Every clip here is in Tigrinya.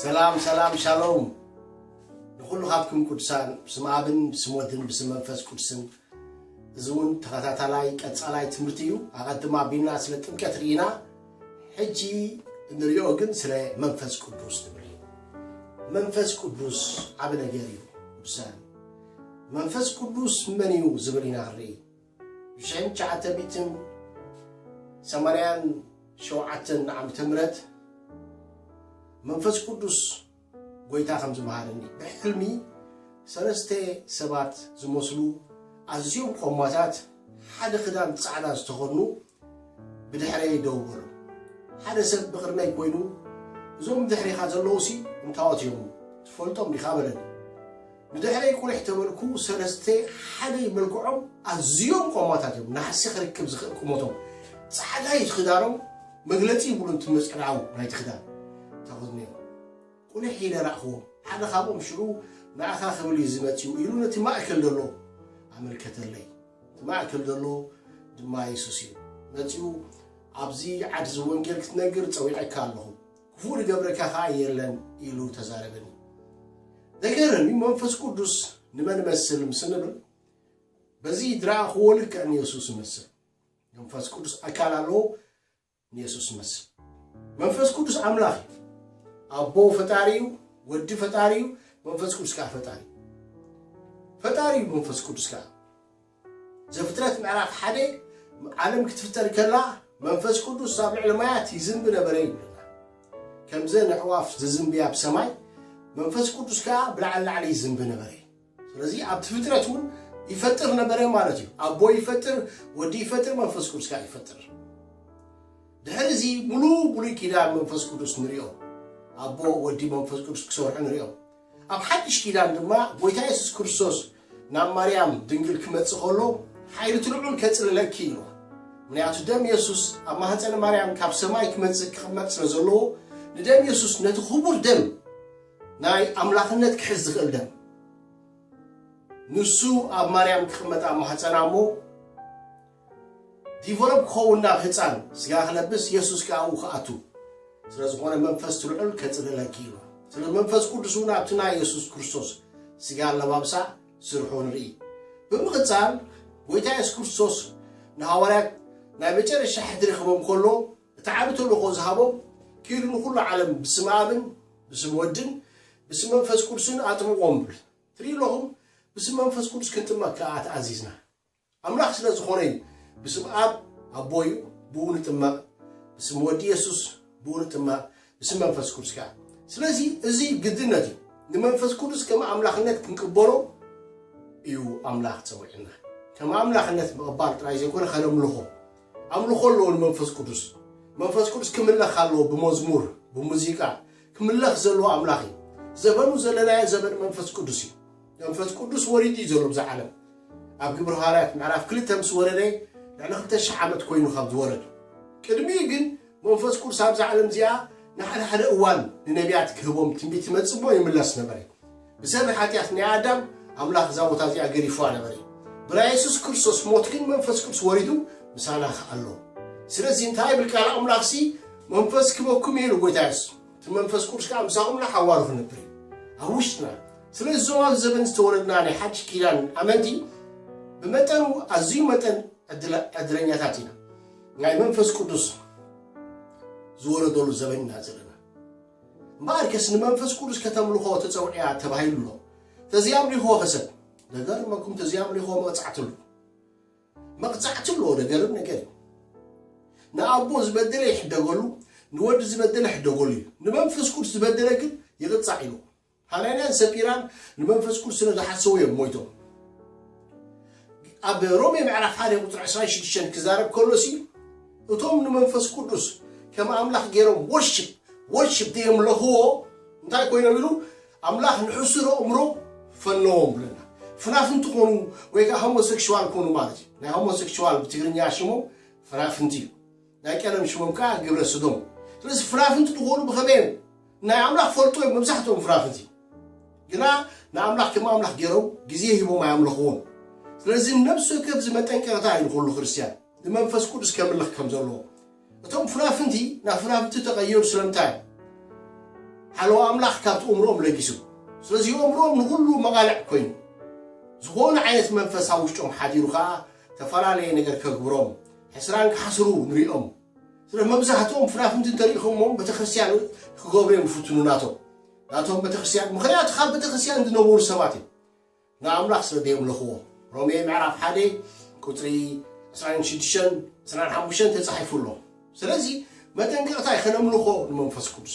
ሰላም ሰላም ሻሎም ንኩሉ ካብኩም ቅዱሳን ብስም ኣብን ብስም ወድን ብስም መንፈስ ቅዱስን እዚ እውን ተኸታታላይ ቀፃላይ ትምህርቲ እዩ ኣቐድም ኣቢልና ስለ ጥምቀት ርኢና ሕጂ እንሪኦ ግን ስለ መንፈስ ቅዱስ ትምህር እዩ። መንፈስ ቅዱስ ዓብ ነገር እዩ ቅዱሳን። መንፈስ ቅዱስ መን እዩ ዝብል ኢና ንርኢ ብሽሕን ትሽዓተ ሚእትን ሰማንያን ሸውዓተን ዓመተ ምህረት መንፈስ ቅዱስ ጐይታ ከምዚ መሃረኒ፣ ብሕልሚ ሰለስተ ሰባት ዝመስሉ ኣዝዮም ቈማታት ሓደ ክዳን ጻዕዳ ዝተኸድኑ ብድሕረይ ደው በሉ። ሓደ ሰብ ብቕድመይ ኰይኑ እዞም ብድሕሬኻ ዘለዉሲ እንታዎት እዮም? ትፈልጦም ዲኻ? በለኒ። ብድሕረይ ቁሊሕ ተበልኩ ሰለስተ ሓደይ መልክዖም ኣዝዮም ቆማታት እዮም ናሕሲ ክርክብ ዝኽእል ቁመቶም ጻዕዳ እዩ ትኽዳኖም መግለጺ ይብሉን እቲ ምጽዕዳው ናይቲ ክዳን ተኸድኖም ቁሊሕ ኢለ ራእኽዎም ሓደ ካብኦም ሽዑ ንኣኻ ክብል እዩ ዝመጽኡ ኢሉ ነቲ ማእከል ዘሎ ኣመልከተለይ እቲ ማእከል ዘሎ ድማ የሱስ እዩ መጺኡ ኣብዚ ዓድዚ ወንጌል ክትነግር ጸዊዐካ ኣለኹ ክፉእ ልገብረካ ከኣ የለን ኢሉ ተዛረበኒ። ዘገርም እዩ መንፈስ ቅዱስ ንመን እመስል ምስ ንብል በዚ ዝረኣኽዎ ልክዕ ንየሱስ እመስል። መንፈስ ቅዱስ ኣካል ኣለዎ ንየሱስ እመስል። መንፈስ ቅዱስ ኣምላኽ እዩ። ኣቦ ፈጣሪ እዩ፣ ወዲ ፈጣሪ እዩ፣ መንፈስ ቅዱስ ከዓ ፈጣሪ እዩ። ፈጣሪ እዩ መንፈስ ቅዱስ ከዓ ዘፍጥረት ምዕራፍ ሓደ ዓለም ክትፍጠር ከላ መንፈስ ቅዱስ ኣብ ልዕሊ ማያት ይዝንቢ ነበረ ይብለና ከምዘን ኣዕዋፍ ዝዝንብያ ኣብ ሰማይ መንፈስ ቅዱስ ከዓ ብላዕሊ ላዕሊ ይዝንቢ ነበረ ስለዚ ኣብቲ ፍጥረት እውን ይፈጥር ነበረ ማለት እዩ ኣቦ ይፈጥር ወዲ ይፈጥር መንፈስ ቅዱስ ከዓ ይፈጥር ድሕሪ እዚ ሙሉ ብሉይ ኪዳን መንፈስ ቅዱስ ንሪኦ ኣቦ ወዲ መንፈስ ቅዱስ ክሰርሑ ንሪኦ ኣብ ሓድሽ ኪዳን ድማ ጎይታ የሱስ ክርስቶስ ናብ ማርያም ድንግል ክመጽእ ከሎ ሓይሊ እቲ ልዑል ከጽልለኪ ኢልዋ ምክንያቱ ደም የሱስ ኣብ ማህጸን ማርያም ካብ ሰማይ ክመጽእ ክቕመጥ ስለ ዘለዎ ንደም የሱስ ነቲ ክቡር ደም ናይ ኣምላኽነት ክሕዝ ዝኽእል ደም ንሱ ኣብ ማርያም ክቕመጥ ኣብ ማህጸና እሞ ዲቨሎፕ ክኸውን ናብ ህጻን ስጋ ክለብስ የሱስ ከኣ ኣብኡ ክኣቱ ስለ ዝኾነ መንፈስ ትልዑል ከጽልለኪ ኢሉ ስለ መንፈስ ቅዱስ እውን ኣብቲ ናይ የሱስ ክርስቶስ ስጋ ኣለባብሳ ስርሑ ንርኢ ብምቕጻል ጎይታ የሱስ ክርስቶስ ንሃዋርያት ናይ መጨረሻ ሕድሪ ክህቦም ከሎ እቲ ዓቢ ተልእኾ ዝሃቦም ኪዱ ንኹሉ ዓለም ብስም ኣብን ብስም ወድን ብስም መንፈስ ቅዱስን ኣጥምቖም ብል ትርኢ ኣለኹም ብስም መንፈስ ቅዱስ ክንጥመቕ ከኣ ተኣዚዝና ኣምላኽ ስለ ዝኾነ እዩ ብስም ኣብ ኣቦ እዩ ብኡ ንጥመቅ ብስም ወዲ የሱስ ብኡ ንጥመቅ ብስም መንፈስ ቅዱስ ከኣ ስለዚ እዚ ግድነት እዩ ንመንፈስ ቅዱስ ከም ኣምላኽነት ክንቅበሎ እዩ ኣምላኽ ጸዊዕና ከም ኣምላኽነት ምቕባል ጥራይ ዘይኮነ ከነምልኾ ኣምልኾ ኣለዎ ንመንፈስ ቅዱስ መንፈስ ቅዱስ ክምለኽ ኣለዎ ብመዝሙር ብሙዚቃ ክምለኽ ዘለዎ ኣምላኽ እዩ ዘበኑ ዘለናዮ ዘበን መንፈስ ቅዱስ እዩ መንፈስ ቅዱስ ወሪዱ እዩ ዘሎ ብዛ ዓለም ኣብ ግብሪ ሃዋርያት ምዕራፍ ክልተ ምስ ወረደ ልዕሊ ክልተ ሽሕ ዓመት ኮይኑ ካብ ዝወረዱ ቅድሚ ግን መንፈስ ቅዱስ ኣብዛ ዓለም እዚኣ ንሓደ ሓደ እዋን ንነቢያት ክህቦም ትንቢት ይመፅቦ ይምለስ ነበረ ብሰብ ሓጢኣት ናይ ኣዳም ኣምላኽ እዛ ቦታ እዚኣ ገሪፍዋ ነበረ ብራ የሱስ ክርስቶስ ሞት ግን መንፈስ ቅዱስ ወሪዱ ምሳና ከኣሎ ስለዚ እንታይ ብል ቃል ኣምላኽሲ መንፈስ ክበኩም ኢሉ ጎይታ የሱስ እቲ መንፈስ ቅዱስ ከኣ ምሳኹም ንሓዋሩ ክነብር እዩ ኣብ ውሽጥና። ስለዚ እዞም ኣብዚ ዘበን ዝተወለድና ናይ ሓድሽ ኪዳን ኣመንቲ ብመጠኑ ኣዝዩ መጠን ዕድለኛታት ኢና። ናይ መንፈስ ቅዱስ ዝወረደሉ ዘበን ኢና ዘለና። እምበኣርከስ ንመንፈስ ቅዱስ ከተምልኾ ተጸውዕያ ተባሂሉ ኣሎ። ተዘይኣምሊኽዎ ከሰብ? ዘገርመኩም ተዘይኣምሊኽዎ መቕጻዕቲ ኣሎ። መቅጻዕቲ ኣለዎ ደገርም ነገር እዩ ንኣቦ ዝበደለ ይሕደገሉ ንወዲ ዝበደለ ሕደገሉ እዩ ንመንፈስ ቅዱስ ዝበደለ ግን ይቅጻዕ ኢሉ ሃናንያን ሰጲራን ንመንፈስ ቅዱስ ስለ ዝሓሰቡ እዮም ሞይቶም ኣብ ሮሜ ምዕራፍ ሓደ ቁፅሪ 26 ክዛረብ ከሎ ሲ እቶም ንመንፈስ ቅዱስ ከም ኣምላኽ ገይሮም ወርሽፕ ወርሽፕ ዘየምለኽዎ እንታይ ኮይኖም ኢሉ ኣምላኽ ንሕሱር ኣእምሮ ፈነዎም ብለና። ፍናፍንቲ ኮኑ ወይ ከኣ ሆሞሰክሽዋል ኮኑ ማለት እዩ። ናይ ሆሞሰክሽዋል ብትግርኛ ሽሞም ፍናፍንቲ እዩ። ናይ ቀደም ሽሞም ከኣ ግብረ ስዶም እዩ። ስለዚ ፍናፍንቲ ዝኾኑ ብኸመይ እዮም? ናይ ኣምላኽ ፈልጦ እዮም መብዛሕትኦም ፍናፍንቲ። ግና ንኣምላኽ ከም ኣምላኽ ገይሮም ግዜ ሂቦም ኣየምለኽዎን። ስለዚ ነብሲ ወከፍ እዚ መጠንቀቕታ እዩ ንኹሉ ክርስትያን ንመንፈስ ቅዱስ ከምልኽ ከም ዘለዎ። እቶም ፉናፍንቲ ናብ ፉናብቲ እተቐየሩ ስለምንታይ እዩ? ሓለዋ ኣምላኽ ካብቲ ኡምርኦም ለጊሱ። ስለዚ ኡምርኦም ንኹሉ መቓልዕ ኮይኑ። ዝኾነ ዓይነት መንፈስ ኣብ ውሽጦም ሓዲሩ ከኣ እተፈላለየ ነገር ከግብሮም፣ ሕስራን ክሓስሩ ንርእዮም። ስለዚ መብዛህትኦም ፉናፍንቲ እንተርኢኹሞም ቤተክርስትያን ክገብሩ እዮም ዝፍትኑ ናቶም ናቶም ቤተክርስትያን ምኽንያቱ ካብ ቤተክርስትያን ዝነበሩ ሰባት እዮም። ንኣምላኽ ስለ ደየምለኽዎ። ሮሜ ምዕራፍ ሓደ ቁጽሪ ዕስራን ሽዱሽተን ዕስራን ሓሙሽተን ተጻሒፉ ኣሎ። ስለዚ መጠንቀቕታ እዩ ከነምልኾ ንመንፈስ ቅዱስ።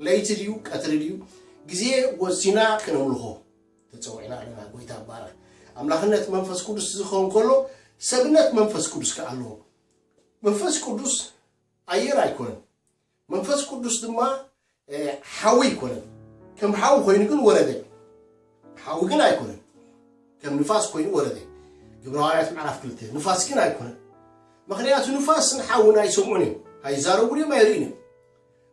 ለይቲ ድዩ ቀትሪ ድዩ ግዜ ወሲና ከነምልኾ ተጸዊዕና ኣለና። ጎይታ ይባረኽ። ኣምላኽነት መንፈስ ቅዱስ ዝኸውን ከሎ ሰብነት መንፈስ ቅዱስ ከኣ ኣለዎ። መንፈስ ቅዱስ ኣየር ኣይኮነን። መንፈስ ቅዱስ ድማ ሓዊ ኣይኮነን። ከም ሓዊ ኮይኑ ግን ወረደ። ሓዊ ግን ኣይኮነን። ከም ንፋስ ኮይኑ ወረደ። ግብረ ሃዋርያት ምዕራፍ ክልተ ንፋስ ግን ኣይኮነን። ምክንያቱ ንፋስን ሓውን ኣይሰምዑን እዮም፣ ኣይዛረቡን እዮም፣ ኣይርእን እዮም።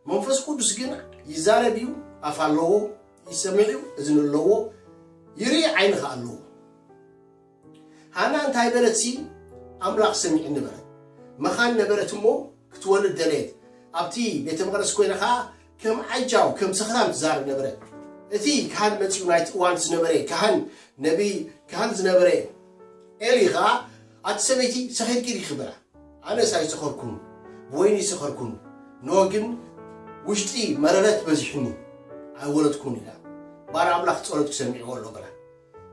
መንፈስ ቅዱስ ግን ይዛረብ እዩ፣ ኣፍ ኣለዎ፣ ይሰምዕ እዩ፣ እዝኒ ኣለዎ፣ ይርኢ ዓይኒ ከዓ ኣለዎ። ሃና እንታይ በለትሲ፣ ኣምላኽ ሰሚዑኒ በለት። መኻን ነበረት እሞ፣ ክትወልድ ደለየት። ኣብቲ ቤተ መቕደስ ኰይና ኸኣ ከም ዓጃው፣ ከም ሰኽራም ትዛረብ ነበረት። እቲ ካህን መጺኡ ናይቲ እዋን ዝነበረ ካህን፣ ነብዪ ካህን ዝነበረ ኤሊ ኸኣ፣ ኣቲ ሰበይቲ ሰኺርኪ ዲኺ? በላ። ኣነስ ኣይሰኸርኩን፣ ብወይኒ እይሰኸርኩን፣ እንሆ ግን ውሽጢ መረረት በዚሑኒ፣ ኣይወለድኩን ኢላ። ባርያ ኣምላኽ ጸሎትኪ ሰሚዕዎ ኣሎ በላ።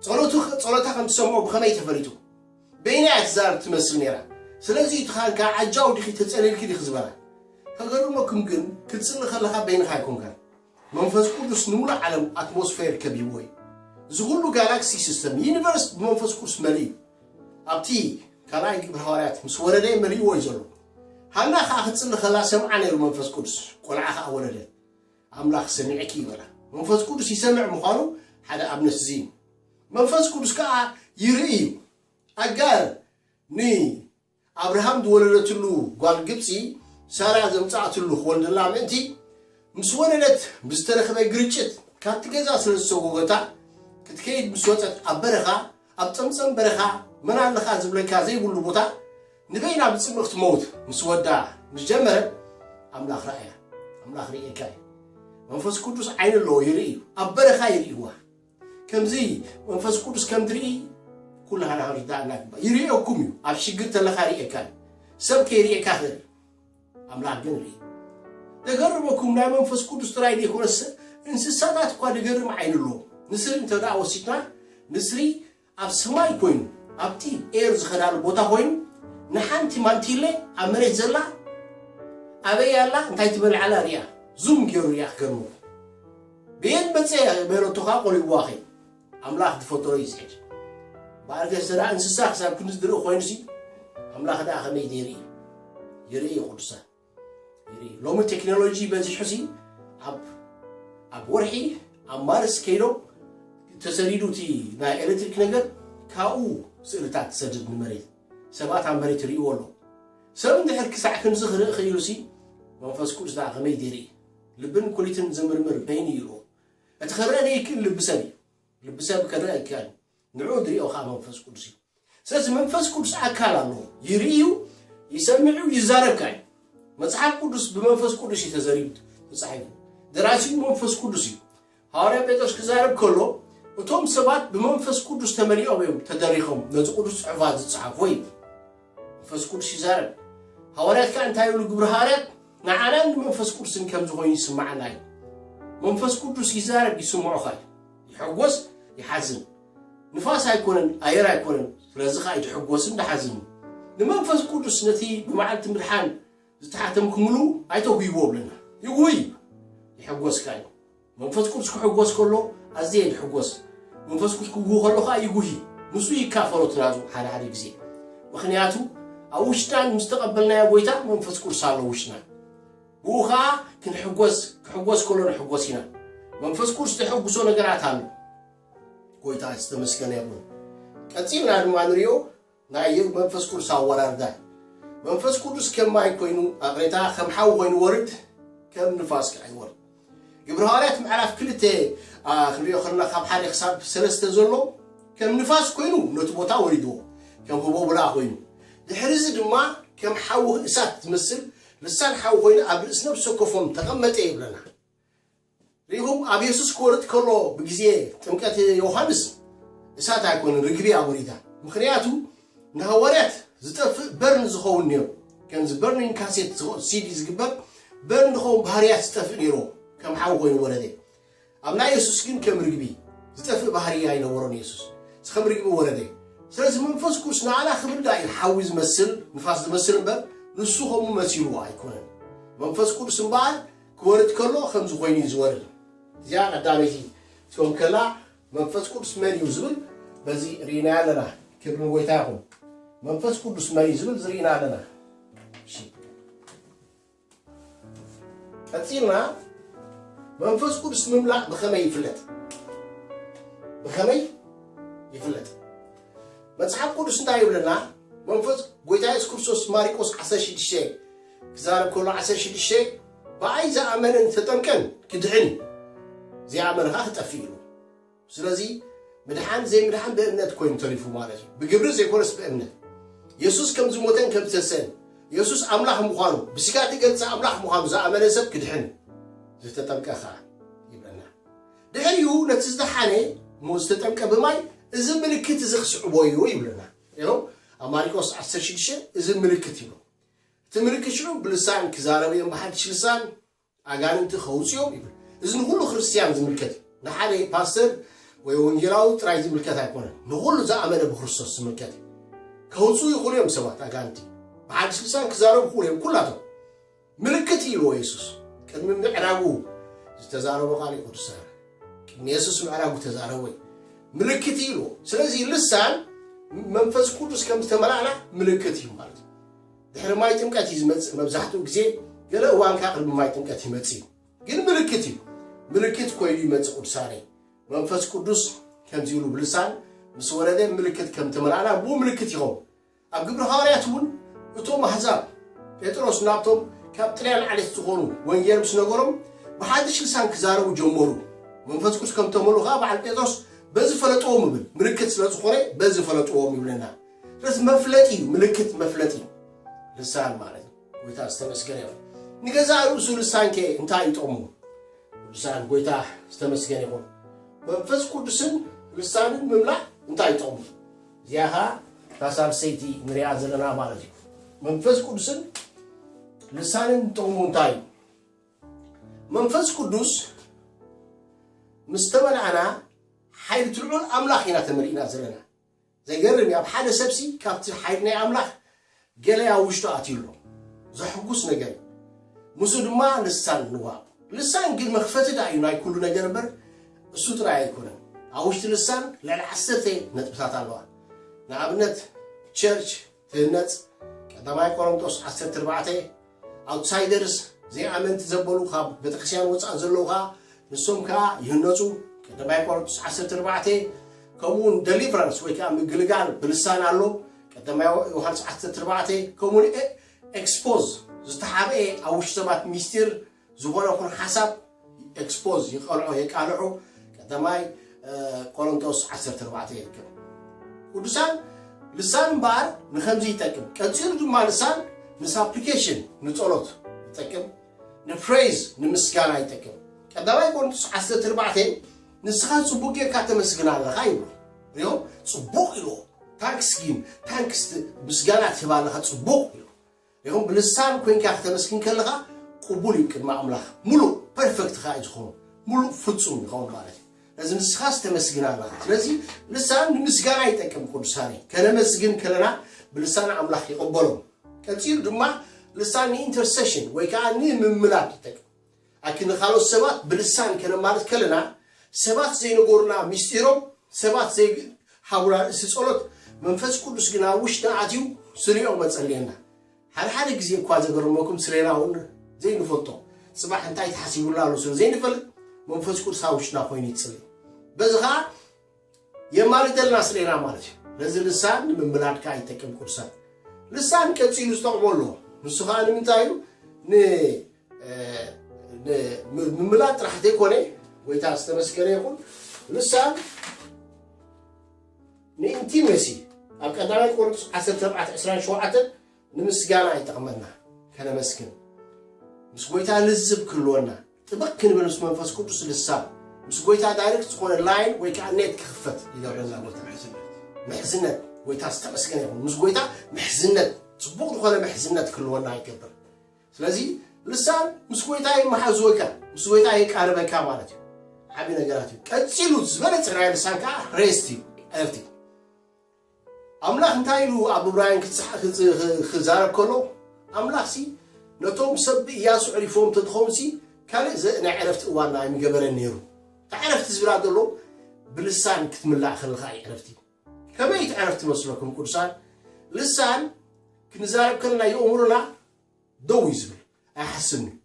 ጸሎቱ ጸሎታ ከም ትሰምዖ ብኸመይ ተፈሊጡ? በይና እያ ትዛረብ ትመስል ነይራ። ስለዚ እዩ ትኻን ከኣ ዓጃው ዲኺ ተጸሊልኪ ዲኺ ዝበላ። ከገርመኩም ግን ክትጽሊ ከለኻ በይንኻ ኣይኮንካን። መንፈስ ቅዱስ ንምሉእ ዓለም ኣትሞስፌር ከቢብዎ እዩ። እዚ ኩሉ ጋላክሲ ሲስተም ዩኒቨርስ ብመንፈስ ቅዱስ መሊኡ እዩ። ኣብቲ ካልኣይ ግብረ ሃዋርያት ምስ ወረደ መሊእዎ እዩ ዘሎ። ሃና ከኣ ክትጽሊ ከላ ሰምዓ ነይሩ መንፈስ ቅዱስ፣ ቆልዓ ከኣ ወለደት። ኣምላኽ ሰሚዕኪ ይበላ። መንፈስ ቅዱስ ይሰምዕ ምዃኑ ሓደ ኣብነት እዚ እዩ። መንፈስ ቅዱስ ከዓ ይርኢ እዩ። ኣጋር ንኣብርሃም ዝወለደትሉ ጓል ግብፂ ሳራ ዘምፃኣትሉ ክወልደላ ምእንቲ ምስ ወለደት ብዝተረኽበ ግርጭት ካብቲ ገዛ ስለ ዝሰጎገታ ክትከይድ ምስ ወፀት ኣብ በረኻ ኣብ ፀምፀም በረኻ መን ኣለኻ ዝብለካ ዘይብሉ ቦታ ንበይና ብጽምኢ ክትመውት ምስ ወዳ ምስ ጀመረት ኣምላኽ ረኣያ ኣምላኽ ርእየካ እዩ መንፈስ ቅዱስ ዓይኒ ኣለዎ ይርኢ እዩ ኣብ በረኻ ይርእይዋ ከምዚ መንፈስ ቅዱስ ከም ትርኢ ኩላህና ከም ዝዳእና ግባ ይርእየኩም እዩ ኣብ ሽግር ተለካ ርእየካ እዩ ሰብ ከይርእየካ ክእል ኣምላኽ ግን ርኢ ተገርመኩም ናይ መንፈስ ቅዱስ ጥራይ ዘይኮነስ እንስሳታት እኳ ዝገርም ዓይኒ ኣለዎ ንስሪ እንተ ደኣ ወሲድና ንስሪ ኣብ ሰማይ ኮይኑ ኣብቲ ኤር ዝኸዳሉ ቦታ ኮይኑ ንሓንቲ ማንቲለ ኣብ መሬት ዘላ ኣበይ ኣላ እንታይ ትበልዕ ኣላ ሪኣ ዙም ጌሩ ሪኣ ክገርመኩም በየን መጸ በለቶ ከኣ ቆሪብዋ ከይ ኣምላኽ ዝፈጠሮ እዩ ዝሕጅ በኣር ገስ ደኣ እንስሳ ክሳብ ክንዲ ዝድርኢ ኮይኑሲ ኣምላኽ ደኣ ከመይ ዘይርኢ ይርኢ ቅዱሳን ሎሚ ቴክኖሎጂ በዚሑሲ ኣብ ወርሒ ኣብ ማርስ ከይዶም ተሰሪዱ እቲ ናይ ኤሌክትሪክ ነገር ካብኡ ስእልታት ትሰድድ ንመሬት ሰባት ኣብ መሬት ይርእይዎ ኣሎ ሰብ እንድሕር ክሳዕ ክንዚ ክርኢ ክኢሉ ሲ መንፈስ ቅዱስ ደኣ ከመይ ዴርኢ ልብን ኩሊትን ዝምርምር በይኑ ይርኦ እቲ ክረአ ዘይክእል ልቢ ሰብ እዩ ልቢ ሰብ ክረአ ይከኣል ንዕኡ ዝሪኦ ከኣ መንፈስ ቅዱስ እዩ ስለዚ መንፈስ ቅዱስ ኣካል ኣለዎ ይርኢ እዩ ይሰምዕ እዩ ይዛረብ ከኣ እዩ መጽሓፍ ቅዱስ ብመንፈስ ቅዱስ እዩ ተዘሪቡ ተጻሒፉ ደራሲኡ መንፈስ ቅዱስ እዩ ሃዋርያ ጴጥሮስ ክዛረብ ከሎ እቶም ሰባት ብመንፈስ ቅዱስ ተመሊኦም እዮም ተደሪኾም ነዚ ቅዱስ ጽሑፋት ዝጸሓፎ እዩ መንፈስ ቅዱስ ይዛረብ ሃዋርያት ከዓ እንታይ ይብሉ ግብሪ ሃዋርያት ንዓናን ንመንፈስ ቅዱስን ከም ዝኾይኑ ይስማዓና እዩ መንፈስ ቅዱስ ይዛረብ ይስምዑኻ እዩ ይሕጎስ ይሓዝን ንፋስ ኣይኮነን ኣየር ኣይኮነን ስለዚ ከኣ ይሕጎስን ድሓዝን ንመንፈስ ቅዱስ ነቲ ብመዓልቲ ምድሓን ዝተሓተምክምሉ ኣይተጉይዎ ብለና ይጉይ ይሕጎስ ከኣ እዩ መንፈስ ቅዱስ ክሕጎስ ከሎ ኣዝየ ይሕጎስ መንፈስ ቅዱስ ክጉህ ከሎ ከኣ ይጉሂ ንሱ ይካፈሎ ትናዙ ሓደ ሓደ ግዜ ምክንያቱ ኣብ ውሽጥናን ምስ ተቐበልናዮ ጎይታ መንፈስ ቅዱስ ኣሎ ውሽጥና ብኡ ኸኣ ክንሕጐስ፣ ክሕጐስ ከሎ ንሕጐስ ኢና። መንፈስ ቅዱስ ዘሐጕሶ ነገራት ኣሎ። ጐይታ ዝተመስገነ ይኹን። ቀጺልና ድማ ንሪኦ ናይ መንፈስ ቅዱስ ኣወራርዳ መንፈስ ቅዱስ ከም ማይ ኮይኑ ኣቕሬታ ከም ሓዊ ኮይኑ ወርድ ከም ንፋስ ከዓ ይወርድ ግብረ ሃዋርያት ምዕራፍ ክልተ ክንሪኦ ከለና ካብ ሓደ ክሳብ ሰለስተ ዘሎ ከም ንፋስ ኮይኑ ነቲ ቦታ ወሪድዎ ከም ህቦብላ ኮይኑ ድሕሪ እዚ ድማ ከም ሓዊ እሳት ዝመስል ልሳን ሓዊ ኮይኑ ኣብ ርእሲ ነፍሲ ወከፎም ተቐመጠ ይብለና። ርኢኹም ኣብ የሱስ ክወርድ ከሎ ብግዜ ጥምቀት ዮሃንስ እሳት ኣይኮነን ርግብ እያ ወሪዳ። ምኽንያቱ ንሃዋርያት ዝጠፍእ በርን ዝኸውን ነይሩ። ከምዚ በርኒን ካሴት ሲዲ ዝግበር በርን ዝኸውን ባህርያት ዝጠፍእ ነይሩ ከም ሓዊ ኮይኑ ወረደ። ኣብ ናይ የሱስ ግን ከም ርግቢ ዝጠፍእ ባህርይ ኣይነበሮን የሱስ ዝከም ርግቢ ወረደ ስለዚ መንፈስ ቅዱስ ንኣና ክብልዳ እዩ ሓዊ ዝመስል ንፋስ ዝመስል እምበር ንሱ ከምኡ መሲልዎ ኣይኮነን መንፈስ ቅዱስ እምበኣር ክወርድ ከሎ ከምዚ ኮይኑ እዩ ዝወርድ እዚኣ ቀዳመይቲ ትከውን ከላ መንፈስ ቅዱስ መን እዩ ዝብል በዚ ርኢና ኣለና ክብሪ ንጎይታ ይኹን መንፈስ ቅዱስ መን እዩ ዝብል ዝርኢና ኣለና ቀጺልና መንፈስ ቅዱስ ምምላእ ብኸመይ ይፍለጥ ብኸመይ ይፍለጥ መጽሓፍ ቅዱስ እንታይ ይብለና መንፈስ ጎይታ የሱስ ክርስቶስ ማሪቆስ 16 ክዛረብ ከሎ 16 ብኣይ ዝኣመነን ዝተጠምቀን ክድሕን እዩ ዘይኣመንኻ ክጠፍእ ኢሉ ስለዚ ምድሓን ዘይምድሓን ብእምነት ኮይኑ ተሪፉ ማለት እዩ፣ ብግብሪ ዘይኮነስ ብእምነት። የሱስ ከም ዝሞተን ከም ዝተሰእን፣ የሱስ ኣምላኽ ምዃኑ ብስጋ እተገልጸ ኣምላኽ ምዃኑ ዝኣመነ ሰብ ክድሕን እዩ፣ ዝተጠምቀ ኸኣ ይብለና። ድሕሪኡ ነቲ ዝደሓነ እሞ ዝተጠምቀ ብማይ እዚ ምልክት እዚ ክስዕቦ እዩ ይብለና። ይኸው ኣብ ማሪቆስ 16 እዚ ምልክት ይብሎ። እቲ ምልክት ሽዑ ብልሳን ክዛረብ እዮም፣ ብሓድሽ ልሳን ኣጋንንቲ ከውጽኦም ይብል እዚ ንኩሉ ክርስትያን ዝምልከት እዩ ንሓደ ፓስተር ወይ ወንጌላዊ ጥራይ ዝምልከት ኣይኮነን ንኩሉ ዝኣመነ ብክርስቶስ ዝምልከት እዩ ከውጽኡ ይኽእሉ እዮም ሰባት ኣጋንቲ ብሓድሽ ልሳን ክዛረቡ ይኽእሉ እዮም ኩላቶም ምልክት ኢልዎ የሱስ ቅድሚ ምዕራጉ ዝተዛረቦ ቃል እዩ ቅዱስ ቅድሚ የሱስ ምዕራጉ ተዛረቦ እዩ ምልክት ኢልዎ ስለዚ ልሳን መንፈስ ቅዱስ ከም ዝተመላእና ምልክት እዩ ማለት እዩ ድሕሪ ማይ ጥምቀት እዩ ዝመጽእ መብዛሕትኡ ግዜ ገለ እዋን ከኣ ቅድሚ ማይ ጥምቀት ይመጽእ እዩ ግን ምልክት እዩ ምልክት ኮይኑ ይመጽእ ቅዱሳነይ መንፈስ ቅዱስ ከምዚ ኢሉ ብልሳን ምስ ወረደ ምልክት ከም ተመልኣና ብኡ ምልክት ይኸውን ኣብ ግብሪ ሃዋርያት እውን እቶም ኣሕዛብ ጴጥሮስ ናብቶም ካብ ጥልያን ዓሌት ዝኾኑ ወንጌል ምስ ነገሮም ብሓድሽ ልሳን ክዛረቡ ጀመሩ መንፈስ ቅዱስ ከም ተመልኡ ከዓ በዓል ጴጥሮስ በዚ ፈለጥዎም ይብል ምልክት ስለ ዝኾነ በዚ ፈለጥዎም ይብለና ስለዚ መፍለጢ እዩ፣ ምልክት መፍለጢ እዩ ልሳን ማለት እዩ። ጎይታ ዝተመስገነ ይኹን። ንገዛእ ርእሱ ልሳን ከ እንታይ እዩ ጥቕሙ? ልሳን ጎይታ ዝተመስገነ ይኹን። መንፈስ ቅዱስን ልሳንን ምምላእ እንታይ እዩ ጥቕሙ? እዚኣ ኸዓ እታ ሳልሰይቲ ንሪኣ ዘለና ማለት እዩ። መንፈስ ቅዱስን ልሳንን ጥቕሙ እንታይ እዩ? መንፈስ ቅዱስ ምስ ተመልኣና ሓይሊ እቲ ልዑል ኣምላኽ ኢና ተመሊእና ዘለና ዘገርም እዩ ኣብ ሓደ ሰብሲ ካብቲ ሓይል ናይ ኣምላኽ ገለ ኣብ ውሽጡ ኣትዩ ኣሎ ዘሕጉስ ነገር እዩ ምስኡ ድማ ልሳን ንዋብ ልሳን ግን መኽፈቲ ዳእዩ ናይ ኩሉ ነገር እምበር እሱ ጥራይ ኣይኮነን ኣብ ውሽጢ ልሳን ልዕሊ ዓሰርተ ነጥብታት ኣለዋ ንኣብነት ቸርች ትህነጽ፣ ቀዳማይ ቆሮንቶስ ዓሰርተ ኣርባዕተ፣ ኣውትሳይደርስ፣ ዘይኣመንቲ ዘበሉ ካብ ቤተክርስቲያን ወጻእ ዘለዉ ከኣ ንሶም ከኣ ይህነጹ፣ ቀዳማይ ቆሮንቶስ ዓሰርተ ኣርባዕተ፣ ከምኡውን ደሊቨራንስ ወይ ከኣ ምግልጋል ብልሳን ኣሎ፣ ቀዳማይ ዮሃንስ ዓሰርተ ኣርባዕተ፣ ከምኡውን ኤክስፖዝ ዝተሓብኤ ኣብ ውሽጢ ሰባት ሚስጢር ዝኾነ ይኹን ሓሳብ ኤክስፖዝ ይቐልዖ የቃልዑ ቀዳማይ ቆሮንቶስ ዓሰርተ ኣርባዕተ ይርከብ ቅዱሳን ልሳን እምበኣር ንከምዚ ይጠቅም ቀፂሉ ድማ ልሳን ንሳፕሊኬሽን ንፀሎት ይጠቅም ንፕሬዝ ንምስጋና ይጠቅም ቀዳማይ ቆሮንቶስ ዓሰርተ ኣርባዕተ ንስኻ ፅቡቅ ጌርካ ተመስግና ኣለኻ ይብሎ ሪኦ ፅቡቅ ኢልዎ ታንክስ ጊን ታንክስ ምስጋና ትህባ ኣለኻ ፅቡቅ ኢሉ ይኹን ብልሳን ኮንካ ክተመስግን ከለኻ ቅቡል እዩ ቅድሚ ኣምላኽ ሙሉእ ፐርፈክት ከኣ እዩ ዝኾኑ ሙሉእ ፍጹም ይኸውን ማለት እዩ ነዚ ንስኻስ ተመስግን ኣለኻ ስለዚ ልሳን ንምስጋና ይጠቅም ቅዱሳነ ከነመስግን ከለና ብልሳን ኣምላኽ ይቕበሎም ቀጺሉ ድማ ልሳን ንኢንተርሴሽን ወይ ከዓ ንምምላድ ይጠቅም ኣኪ ንካልኦት ሰባት ብልሳን ከነማልድ ከለና ሰባት ዘይነገሩና ምስጢሮም ሰባት ዘይ ሃቡና ርእሲ ጸሎት መንፈስ ቅዱስ ግን ኣብ ውሽጥና ኣትዩ ስሪኦም ኣጸልየና ሓደ ሓደ ግዜ እኳ ዘገርመኩም ስሬና እውን ዘይንፈልጦ ጽባሕ እንታይ ተሓሲቡላ ኣሎ ስለ ዘይንፈልጥ መንፈስ ቅዱስ ኣብ ውሽጥና ኮይኑ ይጽልይ በዚ ከዓ የማልደልና ስሌና ማለት እዩ ነዚ ልሳን ንምምላድ ከዓ ይጠቅም ቅዱሳት ልሳን ቀፂሉ ዝጠቕሞ ኣለዎ ንሱ ከዓ ንምንታይ እዩ ምምላድ ጥራሕ ዘይኮነ ጎይታ ዝተመስገነ ይኹን ልሳን ንኢንቲሜሲ ኣብ ቀዳማይ ቆሮንቶስ 1427 ንምስጋና ይጠቕመና ከነመስግን ምስ ጎይታ ልዝብ ክህልወና ጥብቅ ክንብል ምስ መንፈስ ቅዱስ ልሳን ምስ ጎይታ ዳይሬክት ዝኾነ ላይን ወይ ከዓ ኔት ክኽፈት ይገብረና ጎይታ ምሕዝነት ጎይታ ዝተመስገነ ይኹን ምስ ጎይታ ምሕዝነት ፅቡቅ ዝኾነ ምሕዝነት ክልወና ይገብር ስለዚ ልሳን ምስ ጎይታ ይመሓዝወካ ምስ ጎይታ የቃርበካ ማለት እዩ ዓብዪ ነገራት እዩ ቀፂሉ ዝበለፀ ናይ ልሳን ከዓ ሬስት እዩ ዕረፍቲ ኣምላኽ እንታይ ኢሉ ኣብ እብራውያን ክዛረብ ከሎ፣ ኣምላኽሲ ነቶም ሰብ ብእያሱ ኣዕሪፎም እንተትኾኑሲ ካልእ ናይ ዕረፍቲ እዋን ኣይምገበረን ነይሩ። እታ ዕረፍቲ ዝብላ ዘሎ ብልሳን ክትምላእ ከለኻ እዩ ዕረፍቲ። ከመይ እቲ ዕረፍቲ መስለኩም ቅዱሳን? ልሳን ክንዛረብ ከለና የእምሮና ደው እዩ ዝብል፣ ኣይሓስብን እዩ።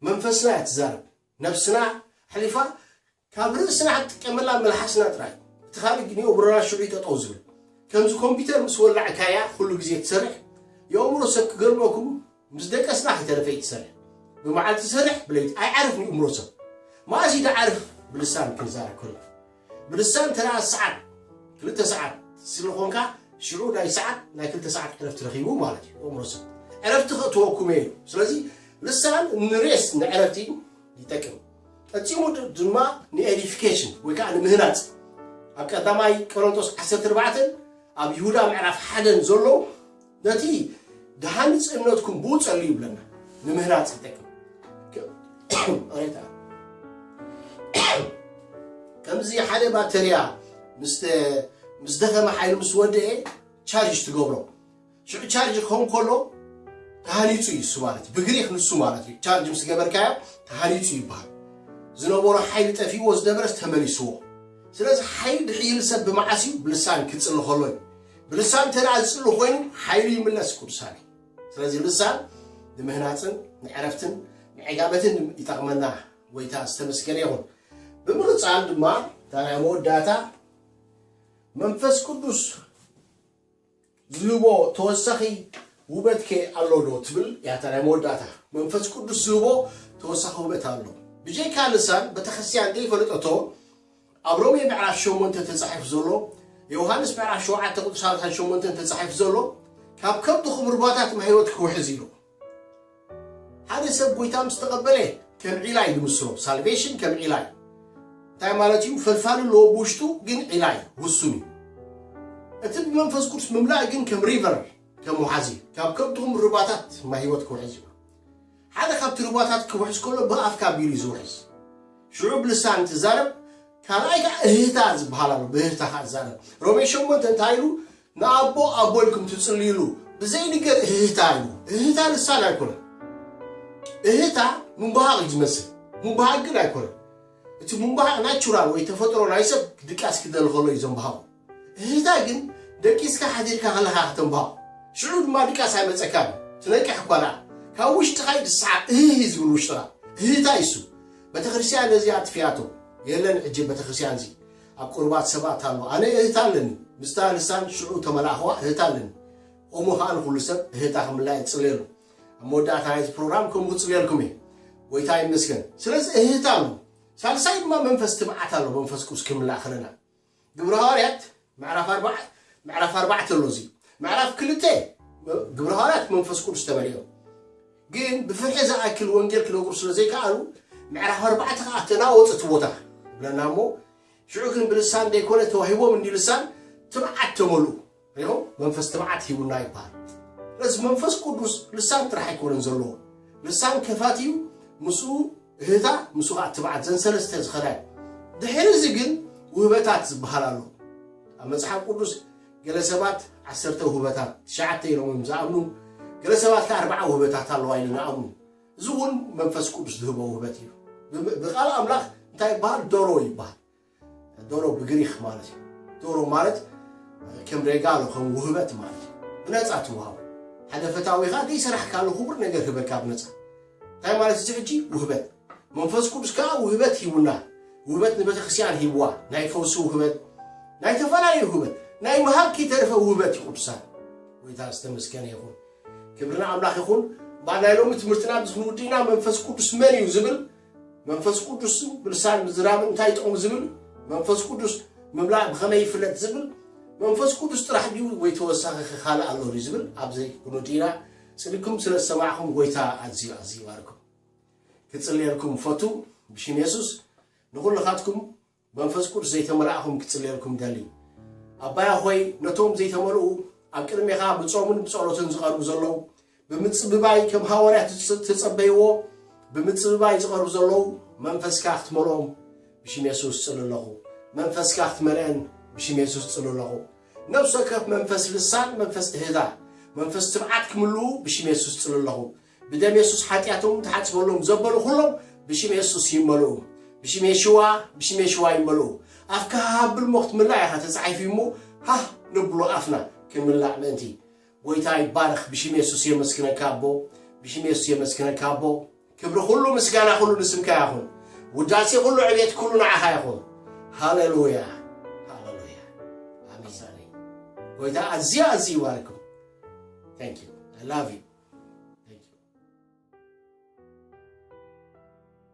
መንፈስና እያ ትዛረብ፣ ነፍስና ኣሕሊፋ ካብ ርእስና ኣትጥቀመላ መልሓስና ጥራይ እቲ ካልእ ግን የእምሮና ሽዑ ጠጠው ዝብል ከምዚ ኮምፒተር ምስ ወላዕካያ ኩሉ ግዜ ትሰርሕ የእምሮ ሰብ ክገርመኩም ምስ ደቀስና ከይተረፈ ትሰርሕ ብመዓልቲ ትሰርሕ ብለይቲ ኣይዓርፍን የእምሮ ሰብ መኣስ እዩ ትዓርፍ ብልሳን ክንዛረብ ከሎ ብልሳን ተረኣ ሰዓት ክልተ ሰዓት ስለኾንካ ሽዑ ናይ ሰዓት ናይ ክልተ ሰዓት ዕረፍቲ ረኺቡ ማለት እዩ የእምሮ ሰብ ዕረፍቲ ከእትወኩም እዩ ስለዚ ልሳን ንሬስ ንዕረፍቲ ይጠቅም ፈጺሙ ድማ ንኤዲፊኬሽን ወይ ከኣ ንምህናጽ ኣብ ቀዳማይ ቀሮንጦስ ዓሰርተ ኣርባዕተን ኣብ ይሁዳ ምዕራፍ ሓደን ዘሎ ነቲ ድሃንጽ እምነትኩም ብኡ ጸልዩ ይብለና ንምህናጽ ይጠቅም ከምዚ ሓደ ባተርያ ምስ ደኸመ ሓይሉ ምስ ወደኤ ቻርጅ ትገብሮ ሽዑ ቻርጅ ክኸውን ከሎ ተሃኒጹ እዩ እሱ ማለት እዩ ብግሪክ ንሱ ማለት እዩ ቻርጅ ምስ ገበርካዮ ተሃኒጹ ይበሃል ዝነበሮ ሓይሊ ጠፊእዎ ዝነበረስ ተመሊስዎ ስለዚ ሓይሊ ድሕይል ሰብ ብመዓስ እዩ ብልሳን ክጽሊ ከሎ እዩ ብልሳን እንተ ደኣ ዝጽሊ ኮይኑ ሓይሉ ይምለስ ቅዱሳን እዩ ስለዚ ልሳን ንምህናፅን ንዕረፍትን ንዕጋበትን ይጠቕመና ጎይታ ዝተመስገነ ይኹን ብምቕፃል ድማ ታናይ መወዳእታ መንፈስ ቅዱስ ዝህቦ ተወሳኺ ውበትከ ኣሎ ዶ ትብል ያታ ናይ መወዳእታ። መንፈስ ቅዱስ ዝህቦ ተወሳኺ ውበት ኣሎ። ብጀይካ ልሳን ቤተክርስትያን ዘይፈለጠቶ ኣብ ሮሜ ምዕራፍ ሸሞንተ ተጻሒፉ ዘሎ ዮሃንስ ምዕራፍ ሸውዓተ ቁጽሪ ሰላሳን ሸሞንተን ተጻሒፉ ዘሎ ካብ ከብድኹም ርባታት ማይ ህይወት ክውሕዝ ኢሉ ሓደ ሰብ ጎይታ ምስ ተቐበለ ከም ዒላ እዩ ዝምስሎ ሳልቬሽን ከም ዒላ እዩ እንታይ ማለት እዩ ፈልፋሊ ኣለዎ ብውሽጡ ግን ዒላ እዩ ውሱን እዩ እቲ ብመንፈስ ቅዱስ ምምላእ ግን ከም ሪቨር ከም ውሓዚ እዩ ካብ ከብድኹም ርባታት ማይ ህይወት ክውሕዝ እዩ ሓደ ካብቲ ርባታት ክውሕዝ ከሎ ብኣፍካ ቢሉ እዩ ዝውሕዝ ሽዑ ብልሳን ትዛረብ ካልኣይ ከዓ እህታ ዝበሃል ኣሎ ብእህታ ከዓ ትዛረብ ሮሜ ሸሞንተ እንታይ ኢሉ ንኣቦ ኣቦ ኢልኩም ትጽልዩሉ ብዘይንገር እህህታ እዩ እህህታ ልሳን ኣይኮነን እህህታ ምንባሃቕ እዩ ዝመስል ምባሃቕ ግን ኣይኮነን እቲ ምንባሃቕ ናቹራል ወይ ተፈጥሮ ናይ ሰብ ድቃስ ክደሊ ከሎ እዩ ዘንባሃቑ እህህታ ግን ደቂስካ ሓዲርካ ከለኻ ከተንባሃቑ ሽዑ ድማ ድቃስ ኣይመጸካን እዩ ትነቅሕ እኳ ደኣ ካብ ውሽጥኻ እዩ ዝሰዓብ እህህ እዩ ዝብል ውሽጥኻ እህህታ ይሱ ቤተክርስትያን ነዚ ኣጥፊኣቶ የለን ሕጂ ቤተክርስትያን እዚ ኣብ ቁርባት ሰባት ኣልቦ ኣነ እህት ኣለኒ ምስታ ልሳን ሽዑ ተመላእክዋ እህት ኣለኒ ኦሞ ከኣ ንኩሉ ሰብ እህታ ክምላይ እጽልየሉ ኣብ መወዳእታ ናይዚ ፕሮግራም ከምኡ ክጽልየልኩም እየ ጎይታ ይመስገን ስለዚ እህት ኣሎ ሳልሳይ ድማ መንፈስ ትብዓት ኣሎ መንፈስ ቅዱስ ክምላእ ከለና ግብረ ሃዋርያት ምዕራፍ ኣርባዕ ምዕራፍ ኣርባዕተ ኣሎ እዚ ምዕራፍ ክልተ ግብረ ሃዋርያት መንፈስ ቅዱስ ተመሊኦም ግን ብፍርሒ ዝኣክል ወንጌል ክነግሩ ስለ ዘይከኣሉ ምዕራፍ ኣርባዕተ ከኣ ተናወጽ እቲ ቦታ ይብለና እሞ ሽዑ ግን ብልሳን ዘይኮነ ተዋሂቦም እንዲ ልሳን ትብዓት ተመልኡ ሪኦም መንፈስ ትብዓት ሂቡና ይበሃል ስለዚ መንፈስ ቅዱስ ልሳን ጥራሕ ኣይኮነን ዘለዎ ልሳን ከፋት እዩ ምስኡ እህታ ምስኡ ከዓ ትብዓት ዘን ሰለስተ ዝኸዳ እዩ ድሕሪ እዚ ግን ውህበታት ዝበሃል ኣሎ ኣብ መፅሓፍ ቅዱስ ገለ ሰባት ዓሰርተ ውህበታት፣ ትሽዓተ ኢሎም እዮም ዝኣምኑ፣ ገለ ሰባት ከኣ ኣርብዓ ውህበታት ኣለዋ ኢሎም ይኣምኑ። እዚ እውን መንፈስ ቅዱስ ዝህቦ ውህበት እዩ። ብ- ብቃል ኣምላኽ እንታይ ይበሃል? ዶሮ ይበሃል። ዶሮ ብግሪኽ ማለት እዩ። ዶሮ ማለት ከም ሬጋሎ ከም ውህበት ማለት እዩ። ብነፃ ትወሃቡ ሓደ ፈታዊኻ ዘይሰራሕካሉ ክቡር ነገር ህበካ ብነፃ እንታይ ማለት እዚ ሕጂ ውህበት መንፈስ ቅዱስ ከዓ ውህበት ሂቡና ውህበት ንቤተ ክርስቲያን ሂብዋ ናይ ፈውሲ ውህበት ናይ ተፈላለዩ ውህበት ናይ ምሃብ ከይተረፈ ውህበት እዩ ቅዱሳን ጎይታ ዝተመስገነ ይኹን ክብርና ኣምላኽ ይኹን እምበኣር ናይ ሎሚ ትምህርትና ምስ ንውድእና መንፈስ ቅዱስ መን እዩ ዝብል መንፈስ ቅዱስ ብልሳን ምዝራብ እንታይ ይጠቕሙ ዝብል መንፈስ ቅዱስ ምምላእ ብኸመይ ይፍለጥ ዝብል መንፈስ ቅዱስ ጥራሕ ድዩ ወይ ተወሳኺ ካልእ ኣሎ ዝብል ኣብዘይ ክንውድእና ጽድቅኩም ስለ ዝሰማዕኩም ጎይታ ኣዝዩ ኣዝዩ ይባርኩም ክጽልየልኩም ፈቱ ብሽም የሱስ ንኩልካትኩም መንፈስ ቅዱስ ዘይተመላእኩም ክጽልየልኩም ደሊ ኣባያ ሆይ ነቶም ዘይተመልኡ ኣብ ቅድሜኻ ብጾምን ብጸሎትን ዝቐርቡ ዘለዉ ብምጽብባይ ከም ሃዋርያት ዝተጸበይዎ ብምጽብባይ ዝቐርቡ ዘለዉ መንፈስካ ክትመልኦም ብሽም የሱስ ጽል ኣለኹ መንፈስካ ክትመልአን ብሽም የሱስ ጽል ኣለኹ ነፍሲ ወከፍ መንፈስ ልሳን መንፈስ እህዛ መንፈስ ትብዓት ክምልኡ ብሽም የሱስ ጽል ኣለኹ ብደም የሱስ ሓጢኣቶም ተሓጽበሎም ዘበሉ ኩሎም ብሽም የሱስ ይመልኡ ብሽም የሽዋ ብሽም የሽዋ ይመልኡ ኣፍካ ሃሃብል ሞ ክትምላእ ኢኻ ተጻሒፉ እሞ ሃህ ነብሎ ኣፍና ክንምላእ ምእንቲ ጎይታ ይባረክ ብሽም የሱስ የመስግነካ ኣቦ ብሽም የሱስ የመስግነካ ኣቦ ክብሪ ኩሉ ምስጋና ኩሉ ንስምካ ይኹን ውዳሴ ኩሉ ዕቤት ኩሉ ንዓኻ ይኹን ሃሌሉያ ሃሌሉያ ኣሜሳኒ ጎይታ ኣዝዩ ኣዝዩ ይባርኩም ታንክ ዩ ላቭ ዩ